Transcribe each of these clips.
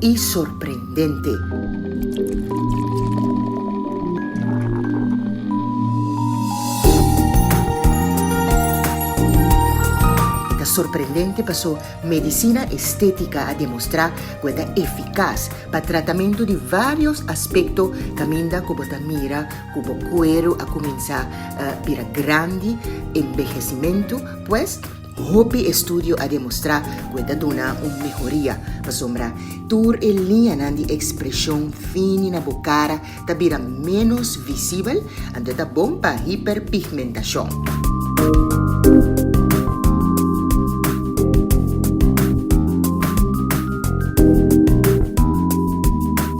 i sorprendente. Ta sorprendente paso medisina estética a demostrá cu e ta eficaz pa tratamento di varios aspecto caminda cu bo ta mira cu bo cuero a cuminsa bira grandi, envejecimento, pues, Hopi estudio a demostrá ku e ta duna un mehoria, pasobra tur e liñanan di ekspreshon fini na bo kara ta bira ménos visibel, anto e ta bon pa hiperpigmentashon.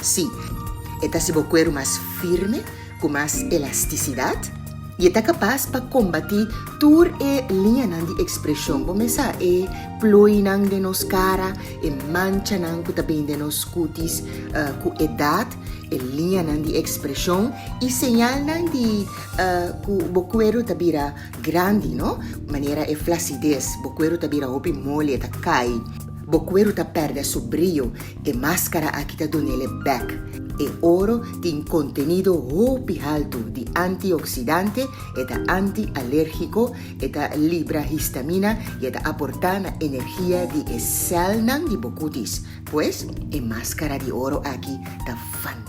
Sí, e ta hasi bo kueru mas firme ku mas elastisidat i e ta kapas pa kombatí tur e liñanan di ekspreshon bo mesa, e ploinan den nos kara, e manchanan ku ta bin den nos kutis ku edat, e liñanan di ekspreshon i señalnan di ku bo kueru ta bira grandi, no manera e flasides, bo kueru ta bira hopi moli, e ta kai, bo kueru ta pèrdè su brio E maskara aki ta donele bek. E oro tin kontenido hopi haltu di antioksidante, e ta anti-alérgiko, e ta libra histamina i e ta aportá na energia di e sèlnan di bo kutis. Pues, e maskara di oro aki ta fantástiko.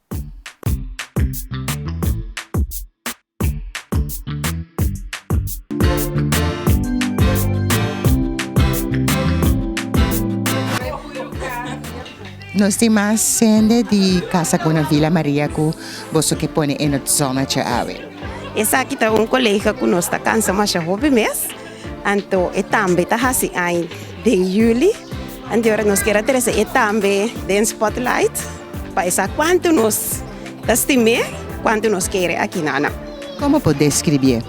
Nos tin mas sende di casa cu na Villa Maria cu boso que pone en het zonnetje awe. Esaki ta un colega cu nos ta cansa masha hopi mes. Anto e tambe ta hasi ein den juli. Anto ora nos kier a trese e tambe den spotlight pa e sa kuantu nos ta stim'é, kuantu nos kere aki nana. Komo por deskribié?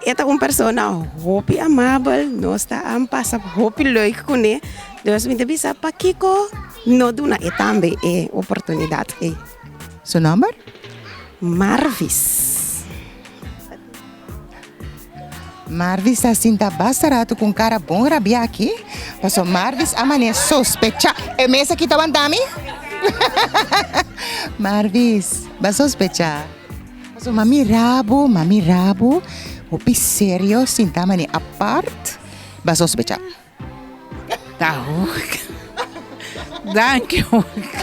E ta un persona hopi amabel, nos ta a pasa hopi leuk kuné. Dus mi ta bisa pakiko no duna e tambe e oportunidat ei. Su nòmber? Marvis. Marvis ta sinta basta ratu ku un kara bon rabiá aki, paso Marvis a manera sospechá e mes aki ta wantá mi. Marvis, b'a sospechá, paso m'a mirá bo, m'a mirá bo hopi serio sintá manera apart, b'a sospechá. Ta hoga. Danki hoga.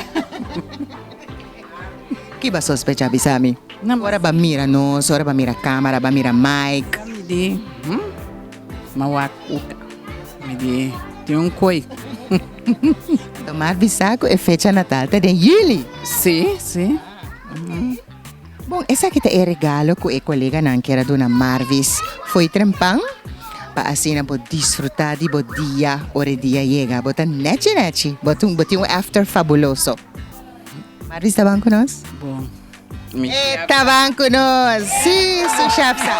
Ki ba sospecha bisa mi? Ora ba mira nos, ora ba mira camera, ba mira mic. Mi di hm ma wak hoga. Mi di tin un koy. Tomar bisa cu e fecha natal ta den yili. Si, si. Bon, esaki ta e regalo ku e koleganan kier a duna Marvis fo'i trempan, pa asina bo disfrutá di bo dia ora e dia yega. Bo ta nèchi nèchi, bo tin bo tin un after fabuloso. Marvis taban ku nos? Bon, mi chef sa. E taban ku nos, sí, su chef sa.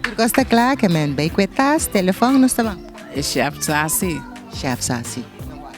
Tur kos ta kla, ke men bai ku e tas, telefòn, nos taban. E chef sa sí. Chef sa sí.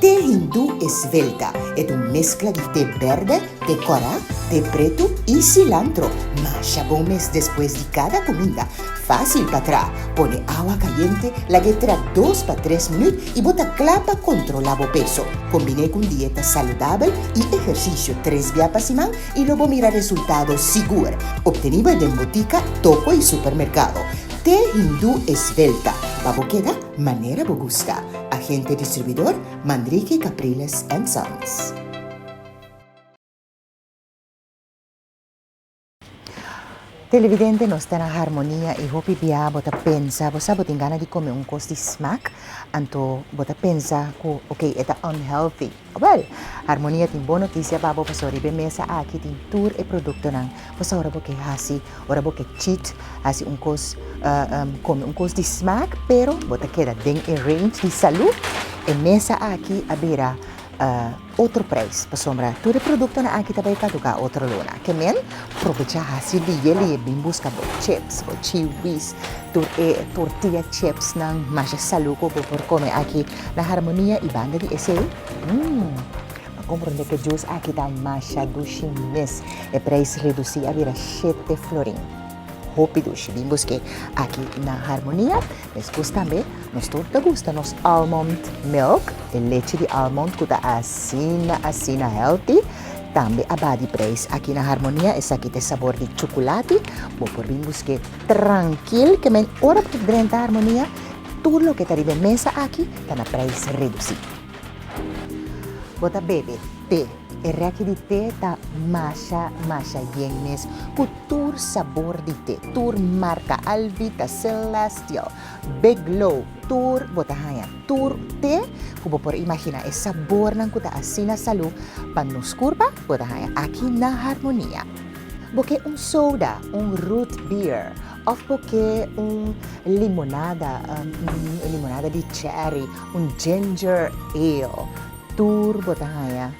Te Hindu Esvelta e ta un meskla di te berde, te kòrá, te pretu i silantro. Masha bon mes despues di kada kuminda. Fásil pa tra. Pone awa kayente, lag'é tra dos pa tres minüt i bo ta kla pa kontrolá bo peso. Kombiné ku un dieta saludabel i ehersisio tres bia pa siman i lo bo mira resultado sigur. Obtení bo e den butika, toko i supermerkado. Te Hindu Esvelta, pa bo keda manera bo gusta. Agente distribuidor, Mandriki Capriles and Sons. Televidente nos ta na Harmonia y hopi bia bo ta pensa bo sa bo tin gana di come un cos di smack anto bo ta pensa cu ok e ta unhealthy. Wel, Harmonia tin bon notisia pa bo pasobra riba e mesa aki tin tur e produktonan. Pasobra bo ke hasi, ora bo ke chit hasi un kos, kome un kos di smak, pero bo ta keda den e range di salu, e mesa aki a bira otro preis. Pasobra tur e produktonan aki ta bai kaduká otro luna. Ke men, probecha hasi liye liye bin buska bo chips, bo chiwis, tur e tortilla chipsnan masha salu ku bo por kome aki. Na harmonia y banda di esey? Mmm! M'a comprende que juice aki ta masha dushi mes. E prijs reduci a bira shete florin. Hopi dushi. Bin busque aki na Harmonia. Despues tambe nos tur ta gusta nos almond milk, e lechi di almond cu ta asina asina healthy. Tambe a ba di prijs aki na Harmonia. Esaki ta e sabor di chuculati. Bo por bin busque trankil. Ke men ora bo ta drenta Harmonia. Tur loke ta riba e mesa aki ta na prijs redusi. Bo ta bebe te. E reki di te ta masha masha bien mes ku tur sabor di te, tur marka, Alvita, Celestial, Big Glow, tur bo ta haña tur te ku bo por imaginá. E sabornan ku ta asina salú pa nos kurpa bo ta haña aki na Harmonia. Bo ke un soda, un root beer Of cu ke un limonada, un limonada di cherry, un ginger ale, tur bo ta haña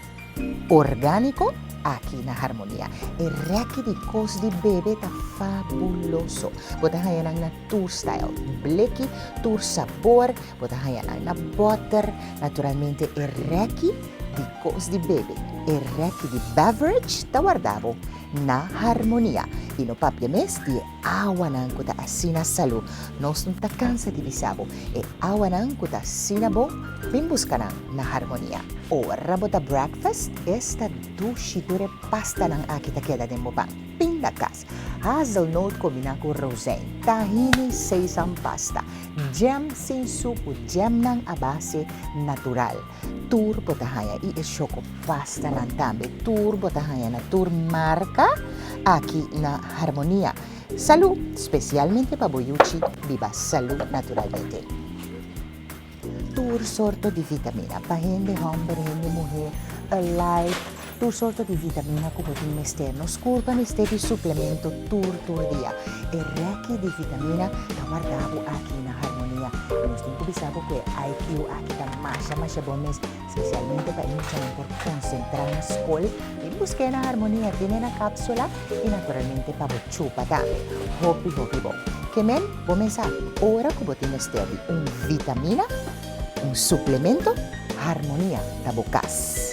orgánico aki na Harmonia. E rèki di kos di bebe ta fabuloso. Bo ta haña nan na tur stijl, bleki, tur sabor, bo ta haña nan na bòter. Naturalmente e rèki di kos di bebe, e rèki di beverage ta warda bo. na harmonia y no papia mes di e awanan cu ta asina salud. Nos no ta cansa di bisa bo, e awanan cu ta asina bon, bin busca nan na harmonia. Ora bo ta breakfast, esta dushi tur e pastanan aki ta keda den bo pan, pindacas, hazelnoot combina cu rozein, tahini, sesam pasta, jam sin sucu, jamnan a base natural. Tur bo ta haña i e shoko pastanan tambe. Tur bo ta haña na tur marka aki na Harmonia. Salú, spesialmente pa bo yuchi, biba salú naturalmente. Tur sorto di vitamina, pa hende hòmber, hende muhé, Alive, Tur sorto di vitamina ku bo tin mester. Nos kurpa mester di suplemento tur tur dia. E rèki di vitamina ta wardá bo aki na Harmonia. I nos tin ku bisa bo ku e IQ aki ta masha masha bon mes, spesialmente pa e muchanan por konsentrá na skol. Bin busk'é na Harmonia, tene na kápsula i naturalmente pa bo chupa tambe. Hopi hopi bon. Ke men? Bo mes sa. Ora ku bo tin mester di un vitamina, un suplemento, Harmonia ta bo kas.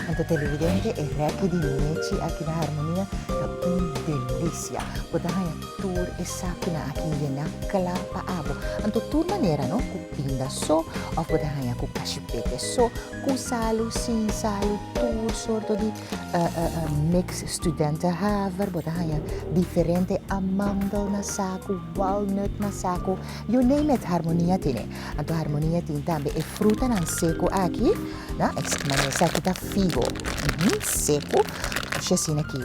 Anto televidente e rèki di Mechi aki na Harmonia ta un delicia. Bo ta haña tur esakinan aki yena kla pa abo. Anto tur manera no, ku pinda so òf bo ta haña ku kashipeke so, ku salu, sin salu, tur sorto di mix studentenhaver, bo ta haña diferente amandel na saku, walnut na saku. You name it, harmonia tin e. Anto harmonia tin tambe e frutanan seku aki, na, ex, mane esaki ta figo, uhu, seku, oshi asina aki,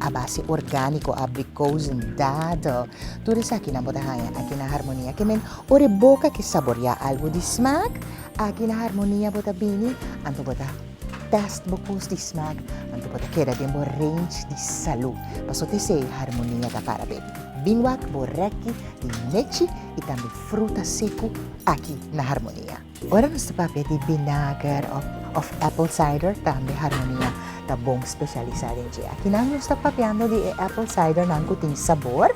a base organiko, abrikozen, dadel, tur esakinan bo ta haña aki na harmonia. Ke men, ora e boka ke saboriá algu di smaak, aki na harmonia bo ta bini, anto bo ta. Test bo cus di smaak, anto bo ta keda den bo range di salu. Paso ta esei harmonia ta para be. Binwak bo rekki di nechi y tambe fruta seku aki na harmonia. Ora nos ta papia di binager of apple cider tambe harmonia ta bon specialisa den dje. Akinan nos ta papiando di e apple cider nan cu tin sabor.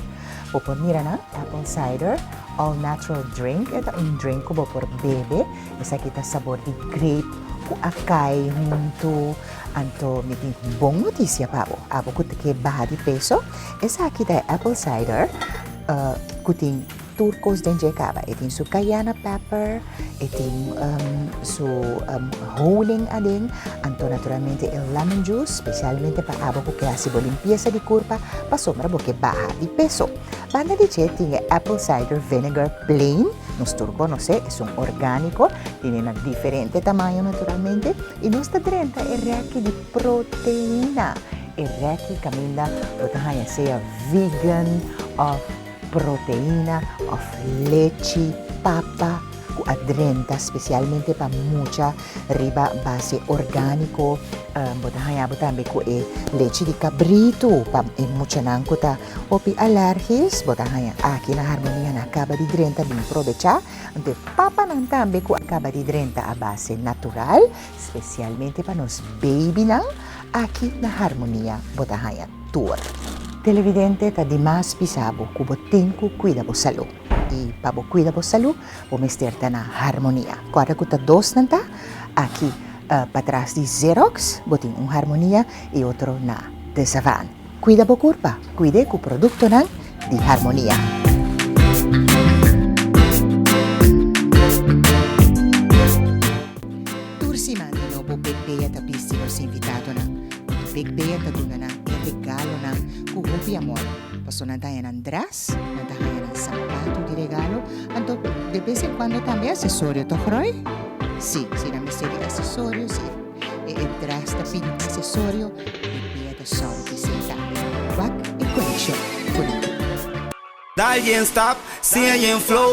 Bo por mira nan apple cider all natural drink. E ta un drink cu bo por bebe. Esaki ta sabor di grape cu a cay hunto, anto mi tin bon noticia pa bo. Abo cu ta kier baha di peso, esaki ta e apple cider cu tin tur cos den dje caba. E tin su cayena pepper, e tin su honing aden, anto naturalmente e lemon juice, specialmente pa abo cu kier haci bo limpieza di curpa, pasobra bo kier baha di peso. Banda di dje tin e apple cider vinegar plain, nos tur konosé esun orgániko, tene na diferente tamaño naturalmente, i nos ta drenta e rèki di proteína. E rèki kaminda lo ta haña sea vegan òf proteína òf lechi, papa, cu a drenta specialmente pa mucha riba base organico. Bo ta haña bo tambe cu e lechi di cabrito pa e muchanan cu ta hopi alergies bo ta haña aki na Harmonia na caba di drenta bin probecha. Anto e papanan tambe cu a caba di drenta a base natural specialmente pa nos babynan aki na Harmonia bo ta haña tur. Televidente ta di mas bisa bo cu bo tin cu cuida bo salud. I pa bo kuida bo salú, bo mester ta na harmonia. Kòrda ku ta dos nan ta? Aki patras di Xerox bo tin un harmonia i otro na Desavan. Kuida bo kurpa, kuid'é ku produktonan di harmonia. Tur siman di nobo Big Bea ta bisti nos invitadonan. Big Bea ta duna nan e regalonan ku hopi amor, pasobra nan ta haña nan dra. S. Nan ta haña nan sapatu di regalo, anto de bes en kuando tambe asesorio, toch Roy? S. Si nan mester di asesorio, si e dres ta pidi un asesorio, mi bia ta sòru di sesa. Wak e konekshon ku nan. Dal yen stap, siña yen flow.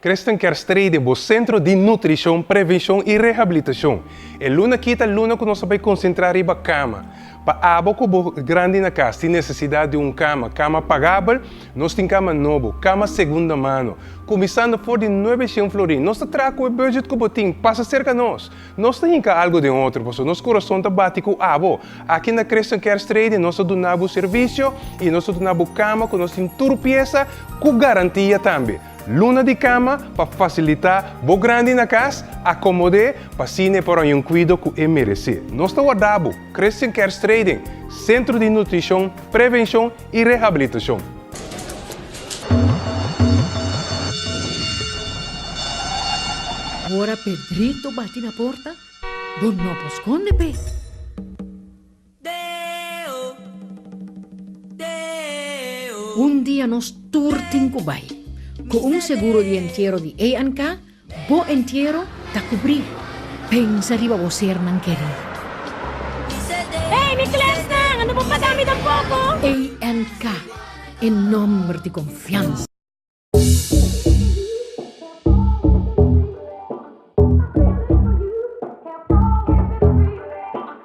Christian Kerstrede, bo Centro di Nutricion, Prevencion y Rehabilitacion. E luna aki ta luna cu nos a bay concentra riba cama. Pa abo cu bo grandi na cas tin necesidad di un cama, cama pagabel, nos tin cama nobo, cama segunda mano. Cuminsando for di nuebe cien florin. Nos ta traha cu e budget cu bo tin. Pasa cerca nos. Nos ta hinka algu den otro, pasobra nos kurason ta bati ku abo. Aki na Creston Kerst Trading nos ta duna bo servisio i nos ta duna bo kama ku nos tin tur piesa ku garantia tambe. Luna di kama pa fasilitá bo grandi na kas, akomod'é pa asina e por haña un kuido ku e meresé. Nos ta wardá bo. Creston Kerst Trading, Sentro di Nutrishon, Prevenshon i rehabilitashon. Ora Pedrito bati na porta, bo no por skonde p'e. Un dia nos tur tin ku bai. Ku un seguro di entiero di A&K. Bo entiero ta kubrí. Pensa riba bo sernan kerí. Ey mi klèsnan, no bo pagá mi tampoko. ANK, e nòmber di konfiansa.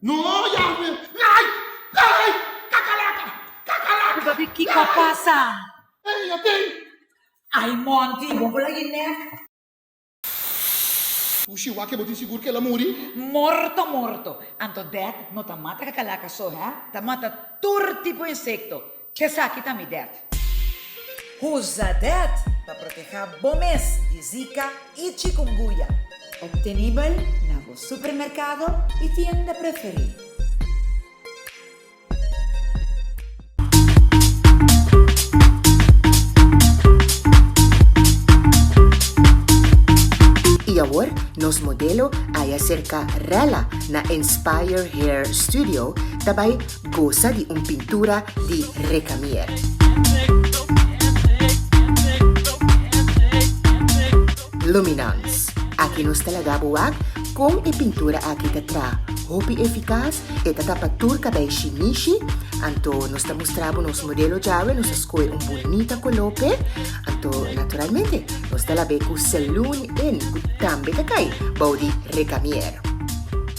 No, Yahwe! Nai! Nai! Kakalaka! Kakalaka! Bo ta di kiko a pasa? Ei, a tei! Ai, Monty, bo bula e nek. Ushi, wak e bo tin sigur ku el a muri? Morto, morto! Anto dat no ta mata kakalaka so, hé? Ta mata tur tipo insekto. Esaki ta mi det. Usa det pa protehá bo mes di Zika i Chikunguya. Optenibel na bo supermerkado i tienda preferí. I awor nos modelo Ayacerca Rella na Inspire Hair Studio ta bai. Gosa di un pintura di Recamier-Luminance. Aki nos ta laga bo wak kon e pintura aki ta tra. Hopi efikas, e ta tapa tur kabei shinishi. Anto nos ta mustra bo nos modelo djawe, nos a skohe un bunita koló p'e. Anto naturalmente nos ta la be ku Saloon Inn ku tambe ta kai bou di Recamier.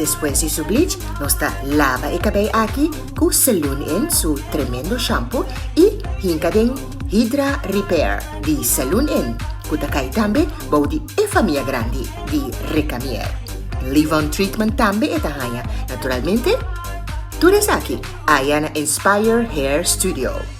Despues di su bleach nos ta laba e cabei aki cu Saloon in su tremendo shampoo y hinca den Hydra Repair di Saloon in cu ta cay tambe bao di e famia grandi di Recamier. Leave on treatment tambe e ta haya naturalmente. Tur esaki aya na Inspire Hair Studio.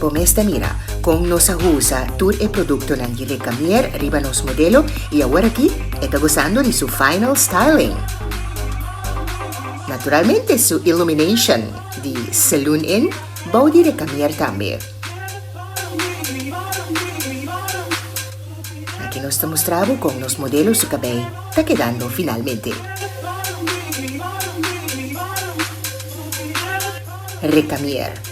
Bo mester mira con nos a usa tur e productonan di Recamier riba nos modelo y awor aki e ta gozando di su final styling. Naturalmente su illumination di Saloon Inn bao di Recamier tambe. Aki nos ta mustra bo con nos modelo su cabey ta kedando finalmente. Recamier.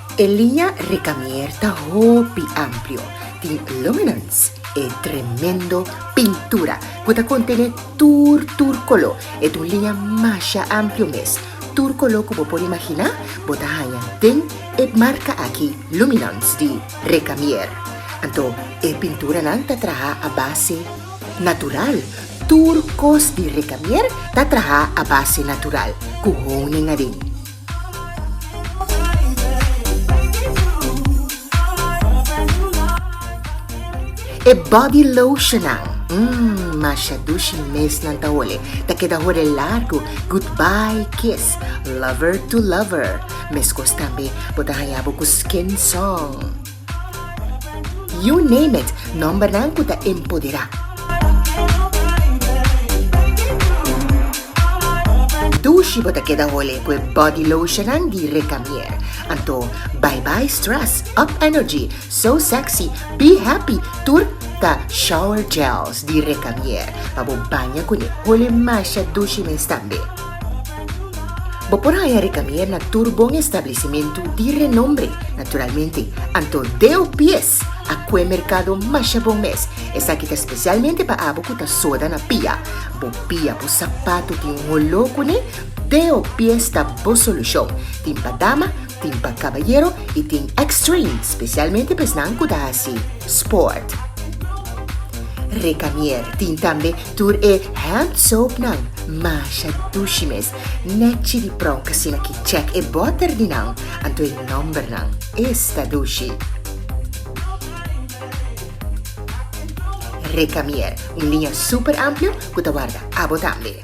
E liña Recamier ta hopi amplio, tin luminance, e tremendo pintura cu ta contene tur tur color. E ta un liña masha amplio mes, tur color cu bo por imagina bo ta haña den e marca aki luminance di Recamier. Anto e pinturanan ta traha a base natural, tur cos di Recamier ta traha a base natural cu honing aden. E body lotionnan, umm, masha dushi mes nan ta ole, ta keda hore largu, goodbye kiss, lover to lover. Meskos tambe bo ta haña bo ku skin song. You name it, nòmbernan ku ta empoderá. Dushi bo ta keda hole ku e body lotionnan di Recamier. Anto bye bye stress, up energy, so sexy, be happy tur ta shower gels di Recamier pa bo baña kuné. Hole masha dushi mes tambe. Bo por haña rekamier na tur bon establisimentu di renombre, naturalmente, anto deo pies a kue merkado masha bon mes. Esaki ta spesialmente pa abo ku ta soda na pia. Bo pia, bo sapatu tin un oló kuné? Deo pies ta bo solushon. Tin pa dama, tin pa kabayero i tin Extreme, spesialmente pa esnan ku ta hasi sport. Rekamier tin tambe Tur e hand soap nan masha dushi mes, nechi di pronk asina ki check e botter di nan, anto e number nan es ta dushi. Recamier, un liña super amplio cu ta warda abo tambe.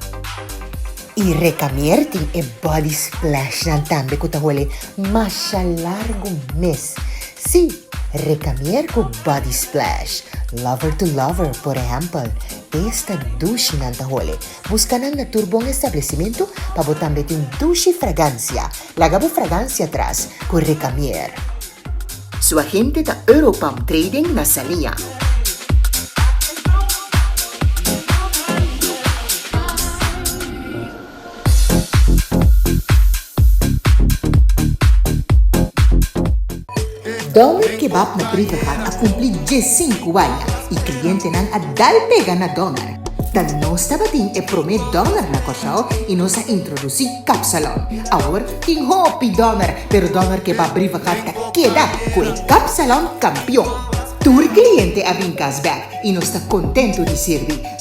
Y Recamier tin e body splash nan tambe cu ta hole masha largo mes. Sí, recamier cu body splash, lover to lover, por ehempel, esta dushi nan ta hole. Busca nan na tur bon establecimento pa bo tambe tin dushi fragancia. Laga bo fragancia tras cu recamier. Su agente ta Europalm Trading na Salia. Doner Kebab na Grievengaard a cumpli diesinku aña y clientenan a dal pega na doner. Ta nos tabatin e prome doner na Curaçao y nos a introduci kapsalon. Awor tin hopi doner, pero Doner Kebab Grievengaard ta keda cu e kapsalon campeon. Tur cliente a bin cas bek y nos ta contento di sirbi.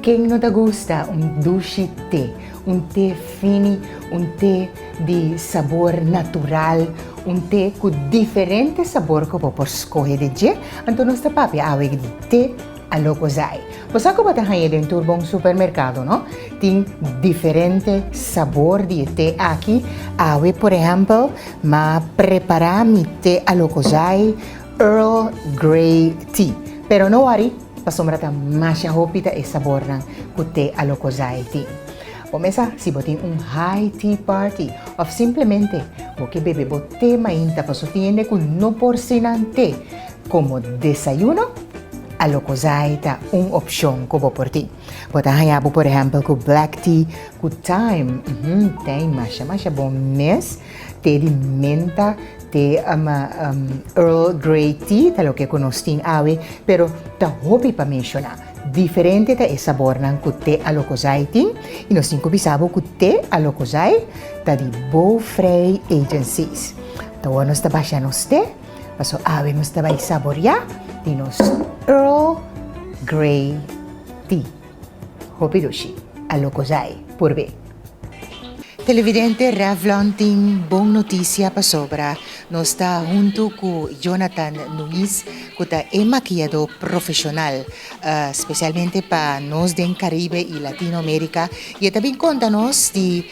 Ken no ta gusta un dushi te, un te fini, un te di sabor natural, un te ku diferente sabor ku bo por skohe di dje? Anto nos ta papia awe di te Alocozay. Bo sa ku bo ta haña den tur bon supermerkado, no? Tin diferente sabor di e te aki. Awe, por ehèmpel, m'a prepará mi te Alocozay. Earl Grey Tea, pero no wori pasobra ta masha hopi ta e sabornan cu te Alocozai tin. Bo mesa si bo tin un high tea party of simplemente bo ke bebe bo te mainta pa su tiende cu no por sinan te como desayuno, Alocozai ta un opcion cu bo por tin. Bo ta haya bo por ehempel cu black tea cu thyme, uhmm tey masha masha bon mes. Te di menta, te Earl Grey tea, ta loke ku nos tin awe, pero ta hopi pa menshoná. Diferente ta e sabornan ku te Alokosai tin i nos tin ku bisa bo ku te Alokosai ta di Bow Frei Agencies. Tahowa nos ta basha nos te, paso awe nos ta bai saboriá di nos Earl Grey tea. Hopi rushi a lokosai por be. Televidente Revlon tin bon noticia pasobra nos ta hunto cu Jonathan Nuñiz cu ta e maquillado profesional specialmente pa nos den Caribe y Latino America y e ta bin conta nos di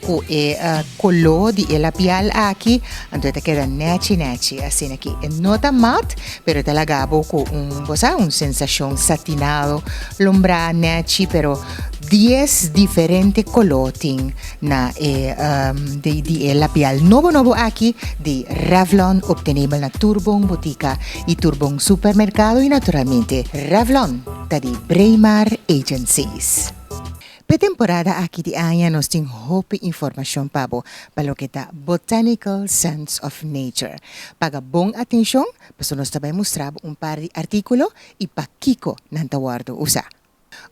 Ku e koló di e labial aki, anto e ta keda nèchi nèchi, asina ki e no ta mat, pero e ta laga bo ku un, bo sa, un sensashon satinado, lombrá, nèchi, pero dies diferente koló tin na e di e labial nobo nobo aki di Revlon, optenebel na tur bon butika i tur bon supermerkado, i naturalmente Revlon ta di Braemar Agencies. P'e temporada aki di aña nos tin hopi informashon pa bo pa loke ta Botanical Sense of Nature. Paga bon atenshon pasobra nos ta bai mustra bo un par di artíkulo i pakiko nan ta wòrdu usá.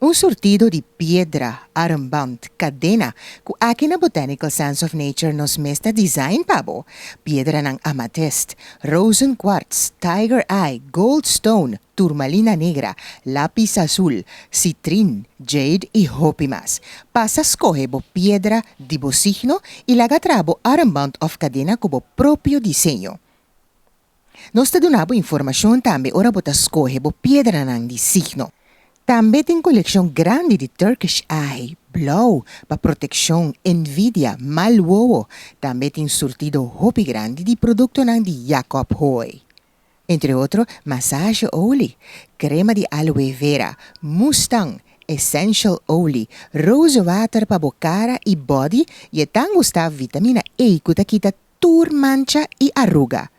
Un surtido di piedra, armband, kadena, ku aki na Botanical Sense of Nature nos mes ta design pa bo. Piedranan amatist, rozenkwarts, tiger eye, gold stone, turmalina negra, lápis azul, sitrin, jade i hopi mas. Pasa skohe bo piedra di bo signo i laga traha bo armband òf kadena ku bo propio diseño. Nos ta duna bo informashon tambe ora bo ta skohe bo piedranan di signo. Tambe tin kolekshon grandi di Turkish Eye, blou, pa protekshon, envidia, mal wowo. Tambe tin surtido hopi grandi di produktonan di Jacob Hoy. Entre otro, massage olie, crema di aloe vera, mustang, essential olie, rose water pa bo cara y body y e tan gusta vitamina A cu ta kita tur mancha y arruga.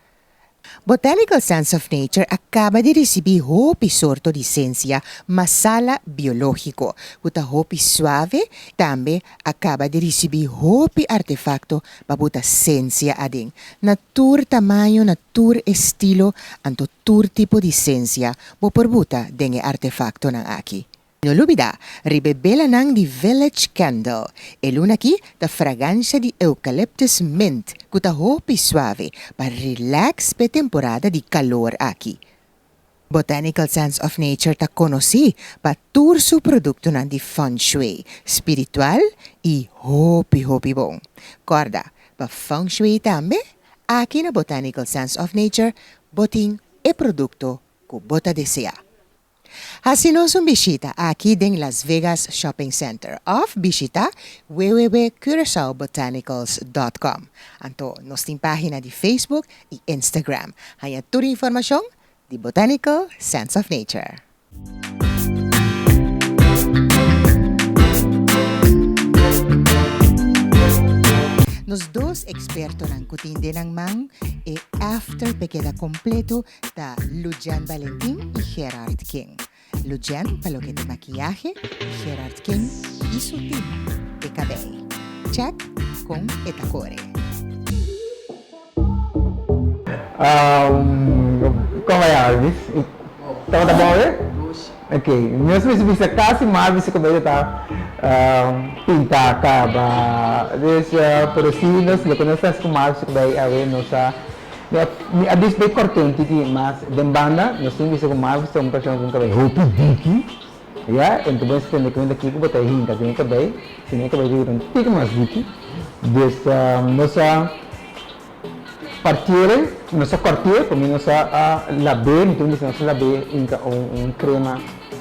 Botanical Sense of Nature a caba di ricibi hopi sorto di sencia masala biologico cu ta hopi suave, tambe a caba di ricibi hopi artefacto Pa bo ta sensia aden. Na tur tamaño, na tur estilo, anto tur tipo di sensia bo por buta den e artefaktonan aki. No lubida riba e belanan di Village Candle. E luna aki ta fragansha di eucalyptus mint ku ta hopi suave pa relax p'e temporada di kalor aki. Botanical Sense of Nature ta konosí pa tur su produktonan di feng shui, spiritual i hopi hopi bon. Kòrda, pa feng shui tambe, aki na Botanical Sense of Nature bo tin e produkto ku bo ta deseá. Hasi nos un bishita aki den Las Vegas Shopping Center òf bishita www.curaçaobotanicals.com. Anto nos tin página di Facebook i Instagram. Haña tur informashon di Botanical Sense of Nature. Nos dos ekspertonan ku tin den nan man e after p'e keda kompleto ta Lujan Valentin i Gerard King. Lucian pa loke di makiyahe y Gerard King y su team di kabel. Check kon e ta kore. Como e Alvis? Como ta bon awe? Ok, nos mester bisa casi mas bisa como ella ta pinta caba. Por así nos lo que nos ta haci con Alvis es como ey awe nos a Mi a bisto e kortenti di mas den banda, nos tin bisto ku mas bo ta un persona ku un kabei hopi diki, ya, enton bo a entende kuinta kiko bo ta hinka den e kabei, si no e kabei ta bira un tiki mas diki. Dus nos a parti'e, nos a kòrti'e, pa mi nos a lab'e, mi ta wini si nos a lab'e un un krema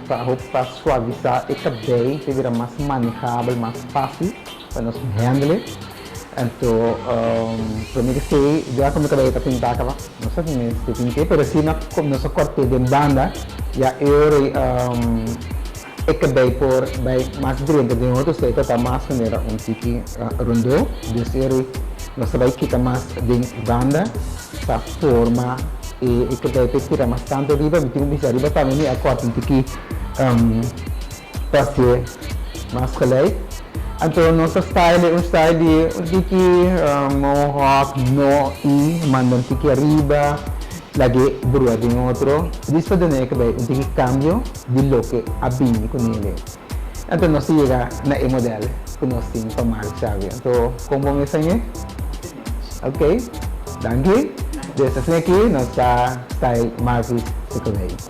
pa hopi pa suavisá e kabei, ta bira mas manejabel, mas fásil pa nos hèndele. Anto prome di fe ya cu mi caba yeta pinta caba no sa si mi sti tin ke pero si no nos a corte den banda ya e ora y e cabey por bay mas drenta den otro sey ta mas manera un tiki rondo dus e ora y nos a bay kita mas den banda pa forma e cabey pa e tira mas tanto riba mi tin un bishara riba tambe mi a corta un tiki Paske mas gelijk. Anto nos a stay den un stay di un tiki mohawk no i manda un tiki ariba laga e brua den otro. Dis ta duna e cabei un tiki cambio di loke a bini cu nele. Anto nos ta yega na e model cu nos tin pa Mark Xavi. Anto con bo mester mi? Ok. Danki. Desde asina aki nos ta stay Marvis su cabei.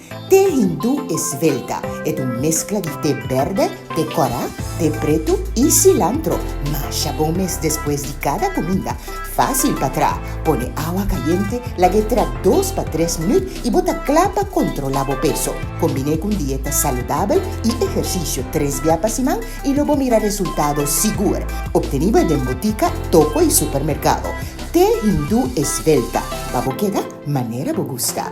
Te Hindu Esvelta e ta un meskla di te berde, te kòrá, te pretu i silantro. Masha bon mes despues di kada kuminda. Fásil pa tra. Pone awa kayente, lag'é tra dos pa tres minüt i bo ta kla pa kontrolá bo peso. Kombiné ku un dieta saludabel i ehersisio tres bia pa siman i lo bo mira resultado sigur. Obtení bo e den butika, toko i supermerkado. Te Hindu Esvelta, pa bo keda manera bo gusta.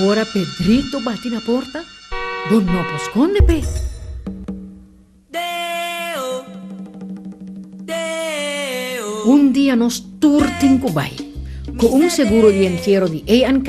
Ora Pedrito bati na porta, bo no por skonde p'e. Deo, Deo. Un dia nos tur tin ku bai. Ku un seguro di entiero di A&K.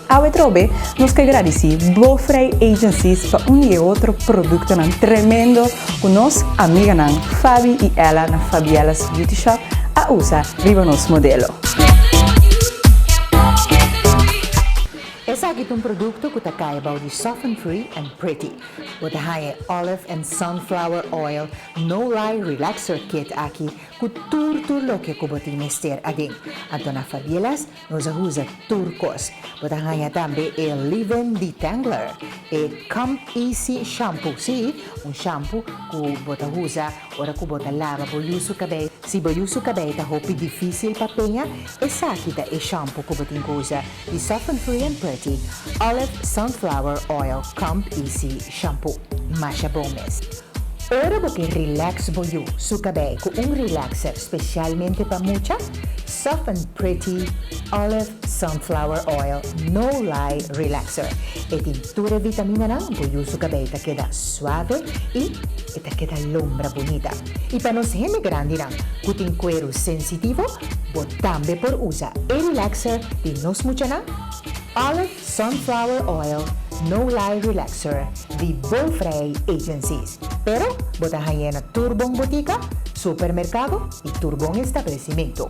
Awe trobe nos ke gradici Bo Vrij Agencies pa un di e otro productonan tremendo cu nos amiganan Fabi y Ella na Fabiella's Beauty Shop a usa riba nos modelo. Esaki ta un producto cu ta caya bao di Soften Free and Pretty. Bo ta haya e Olive and Sunflower Oil No Lie Relaxer Kit aki cu tur tur loke cu bo tin mester aden. Anto na Fabiella's Nos a usa tur kos. Bo ta haña tambe e Leave-In Detangler, e Come Easy Shampoo, sí, un shampu ku bo ta usa ora ku bo ta laba bo yusu kabei. Si bo yusu kabei ta hopi difísil pa peña, esaki ta e shampu ku bo tin ku usa, di Soften Free and Pretty Olive Sunflower Oil Come Easy Shampoo. Masha bon mes! Ora bo ke relax bo yu su kabei ku un relaxer spesialmente pa mucha, Soft and Pretty Olive Sunflower Oil No Lie Relaxer. E tin tur e vitaminanan bo yu su kabei ta keda suave i e ta keda lombra bunita. I pa nos hende grandinan ku tin kueru sensitivo, bo tambe por usa e relaxer di nos muchanan Olive Sunflower oil no lie relaxer di Bovrij Agencies, pero bo ta hañ'é na tur bon botika, supermerkado i tur bon establesimentu.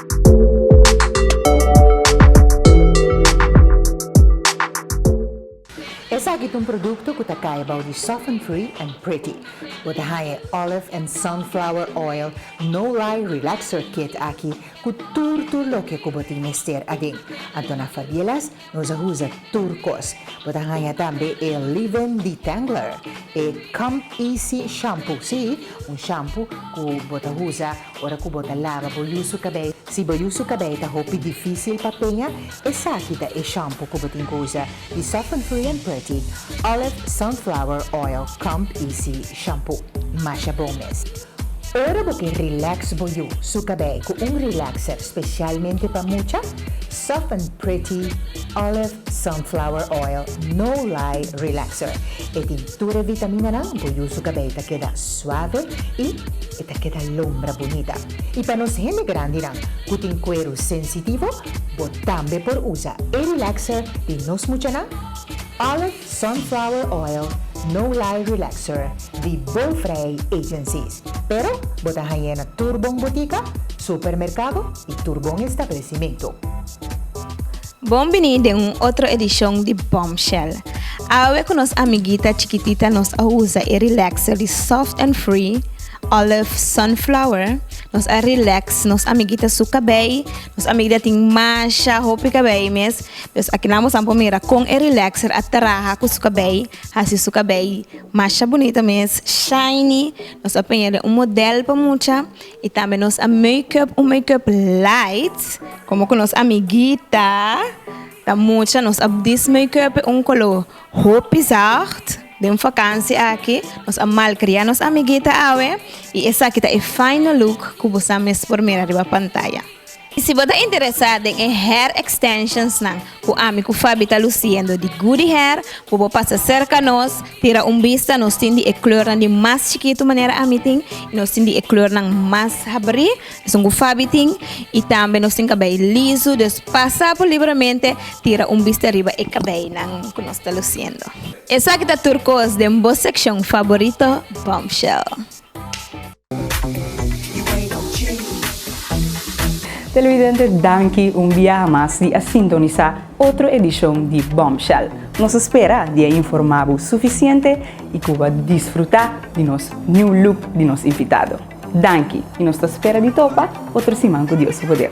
Esaki ta un produkto ku ta kaya bou di Soften Free and Pretty. Bo ta haña e Olive and Sunflower Oil No Lie Relaxer Kit aki ku tur tur loke ku bo tin mester aden. Antona Fabielas Nos a usa tur kos. Bo ta haña tambe e Leave-In Detangler, e Comb Easy Shampoo, sí, un shampu ku bo ta usa ora ku bo ta laba bo yu su kabei. Si bo yu su kabei ta hopi difísil pa peña, esaki ta e shampu ku bo tin ku usa, di Soften Free and Pretty Olive Sunflower Oil Comb Easy Shampoo. Masha bon mes! Ora bo ke relax bo yu su kabei ku un relaxer spesialmente pa mucha, Soft and Pretty Olive Sunflower Oil No Lie Relaxer. E tin tur e vitaminanan, bo yu su kabei ta keda suave i e ta keda lombra bunita. I pa nos hende grandinan ku tin kueru sensitivo, bo tambe por usa e relaxer di nos muchanan Olive. Sunflower oil no lie relaxer di Bovrij Agencies, pero bo ta hañ'é na tur bon botika, supermerkado i tur bon establesimentu. Bon bini den un otro edishon di Bombshell! Awe ku nos amiguita chikitita nos a usa e relaxer di Soft and Free Olive Sunflower, nos a relax nos amiguita su kabei, nos amiguita tin masha hopi kabei mes, Pues akinan bosa por mira kon e relaxer a traha ku su kabei, hasi su kabei masha bunita mes, shiny, nos a peña den un model pa mucha i tambe nos a make up un make up light komo ku nos amiguita ta mucha nos a dis make up un kolo hopi zagt den vakansi aki nos a malkria nos amiguita awe i esaki ta e final look ku bosa mes por mira riba pantaya. Y si bo ta interesa den e hair extensions nan cu ami cu Fabi ta luciendo di Goody Hair, bo por pasa cerca nos, tira un bista, nos tin di e kleurnan di mas chikitu manera ami tin, y nos tin di e kleurnan mas habri, esun cu Fabi tin, y tambe nos tin cabei lisu, dus pasa por libremente, tira un bista riba e cabeinan cu nos ta luciendo. Esaki ta tur cos den bo seccion faborito Bombshell. Televidente danki un biaha mas di a sintonisa otro edishon di Bombshell. Nos spera di a informa bo sufisiente i ku bo a disfruta di nos new look di nos invitado. Danki i nos ta spera di topa otro siman ku Dios su poder.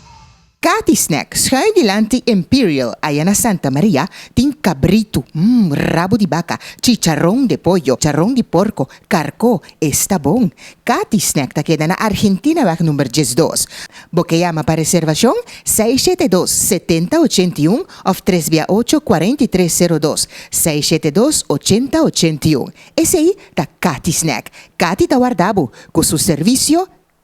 Cathy Snack, Schuin dilanti Imperial, aya na Santa Maria, tin cabrito, mm, rabo di baca, chicharon de pollo, charon di porco, carco, esta bon. Cathy Snack ta keda na Argentinaweg number diesdos. Bo ke yama pa reservacion seis shete dos, setenta ochenta i un of tres bia ocho, cuarenta i tres zero dos, seis shete dos, ochenta ochenta i un. Esei ta Cathy Snack. Cathy ta warda bo cu su servicio.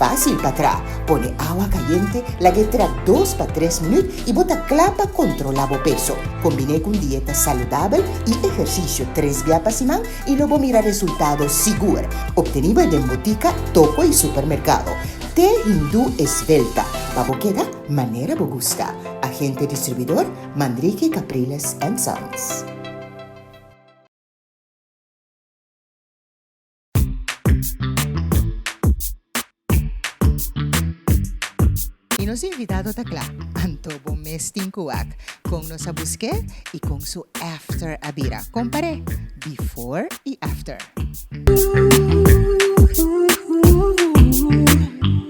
Fásil pa tra. Pone awa kayente, lag'é tra dos pa tres minüt i bo ta kla pa kontrolá bo peso. Kombiné ku un dieta saludabel i ehersisio tres bia pa siman i lo bo mira resultado sigur. Obtení bo e den butika, toko i supermerkado. Te Hindú Esbelta, pa bo keda manera bo gusta. Agente Distribuidor, Mandriki Capriles and Sons. Y nos invitado ta cla, anto bo mes tin cu wak con nos a busque y con su after a bira. Compare before y after.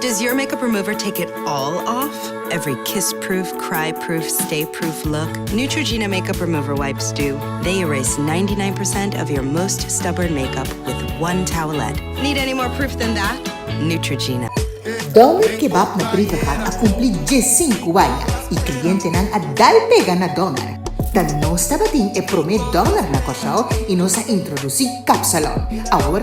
Does your makeup remover take it all off? Every kiss proof, cry proof, stay proof look? Neutrogena makeup remover wipes do. They erase ninety nine percent of your most stubborn makeup with one towelette. Need any more proof than that? Neutrogena. Doner Kebab na Brievengaard a cumpli diescinco aña y clientenan a dai pega na Doner. Ta nos tabatin e prome Doner na Còrsou y nos a introduci Kapsalon. Awor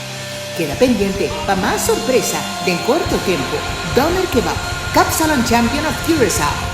Keda pendiente pa mas sorpresa den korto tempo, Doner Kebab, Kapsalon Champion of Curaçao.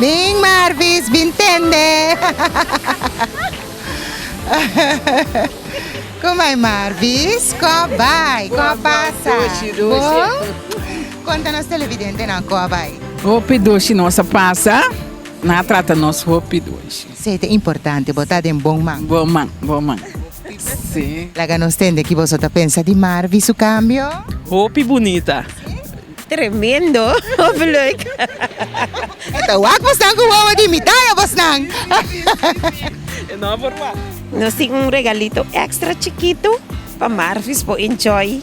Bin Marvis, bin tende. Como ai Marvis? Ko bai, ko pasa? Bon? Konta nos televidentenan ku a bai. Hopi doshi nos a pasa, nan a trata nos hopi doshi. Sey ta importante, bo ta den bon man. Bon man, bon man. Sí. Laga nos tende ki boso ta pensa di Marvi su kambio. Hopi bunita. Tremendo hopi leuk. E ta wak bosnan ku wowo di mitaya bosnan. E no por wak. Nos tin un regalito extra chikitu pa Marvis por enjoy.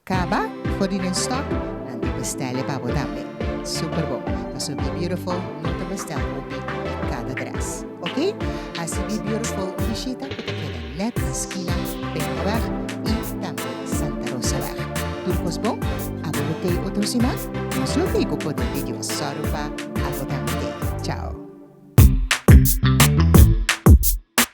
Caba for di den stock and di bestel'e pa bo tambe. Super bon. Paso Be Beautiful no ta bestel hopi di cada dress. Ok? Haci Be Beautiful un bishita cu ta keda net na skina Pekingaweg y tambe Santa Rosaweg. Tur cos bon? Abo lo tey otro siman? Nos lo tey cu poder di Dios. Sorry pa abo tambe tey. Chao.